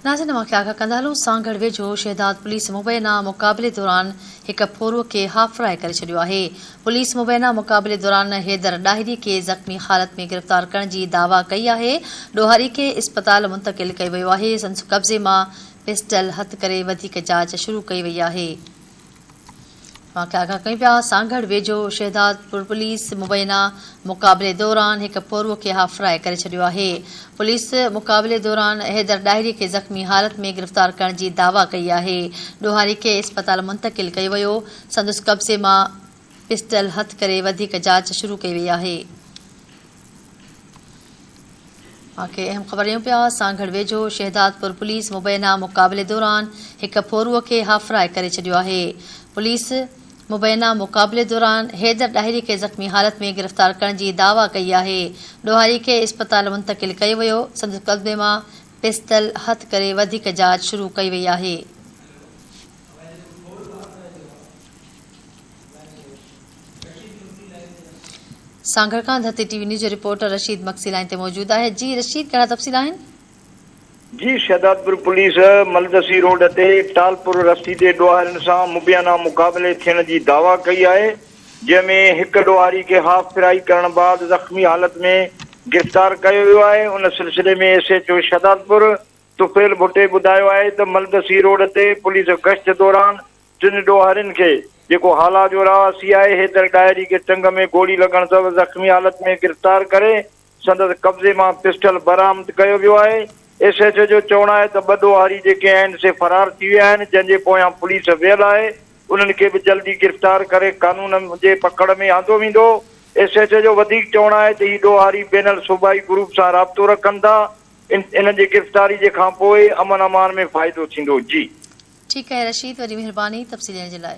ناظرين اوهان کي آگاهه ڪندا هلون سانگهڙ ويجهو شهداد پوليس مبينا مقابلي دوران هڪ ڦورو کي هافراء ڪري ڇڏيو آهي پوليس مبينا مقابلي دوران حيدر ڏاهري کي زخمي حالت ۾ گرفتار ڪرڻ جي دعويٰ ڪئي آهي ڏوهاري کي اسپتال منتقل ڪيو ويو آهي سندس قبضي مان پسٽل هٿ ڪري وڌيڪ جاچ شروع ڪئي وئي آهي. واقعا آگاهه ڪيون پيا، سانگهڙ ويجهو شهدادپور پوليس مبينا مقابلي دوران هڪ پورهئو کي هاف فرائي ڪري ڇڏيو آهي. پوليس مقابلي دوران حيدر ڏاهري کي زخمي حالت ۾ گرفتار ڪرڻ جي دعويٰ ڪئي آهي. ڏوهاري کي اسپتال منتقل ڪيو ويو، سندس قبضي مان پسٽل هٿ ڪري وڌيڪ جاچ شروع ڪئي وئي آهي. سانگهڙ ويجهو شهدادپور پوليس مبينا مقابلي دوران هڪ ڦورو کي هاڦرائي ڪري ڇڏيو آهي. پوليس مبينا مقابلي دوران حيدر ڏاهري کي زخمي حالت ۾ گرفتار ڪرڻ جي دعويٰ ڪئي آهي. ڏوهاري کي اسپتال منتقل ڪيو ويو، سندس قبضي مان پسٽل هٿ ڪري وڌيڪ جاچ شروع ڪئي وئي آهي. سانگهڙ کان ڌرتي ٽي وي نيوز جو رپورٽر رشيد مگسي لائين تي موجود آهي جي رشيد ڪهڙا تفصيل آهن. جي شهدادپور پوليس ملدسي روڊ تي ٽالپور رستي تي ڏوهارين سان مبينا مقابلي ٿيڻ جي دعويٰ ڪئي آهي جنهن ۾ هڪ ڏوهاري کي هاف ڦرائي ڪرڻ بعد زخمي حالت ۾ گرفتار ڪيو ويو آهي ان سلسلي ۾ S H O Shahdadpur Tufail Bhatti ٻڌايو آهي ته ملدسي روڊ تي پوليس گشت دوران ٽن ڏوهارين کي جيڪو هالا جو رهواسي آهي حيدر ڏاهري کي ٽنگ ۾ گولي لڳڻ سبب زخمي حالت ۾ گرفتار ڪري سندس قبضي مان پسٽل برآمد ڪيو ويو آهي ايس ايڇ او جو چوڻ آهي ته ٻه ڏوهاري جيڪي آهن سي فرار ٿي ويا آهن جنهن جي پويان پوليس ويل آهي انهن کي به جلدي گرفتار ڪري قانون جي پڪڙ ۾ آندو ويندو ايس ايڇ او جو وڌيڪ چوڻ آهي ته هي ڏوهاري بين الصوبائي گروپ سان رابطو رکن ٿا انهن جي گرفتاري جي کان پوء امن امان ۾ فائدو ٿيندو جي. ٺيڪ آهي رشيد وري مھرباني تفصيل ڏيڻ جي لاء.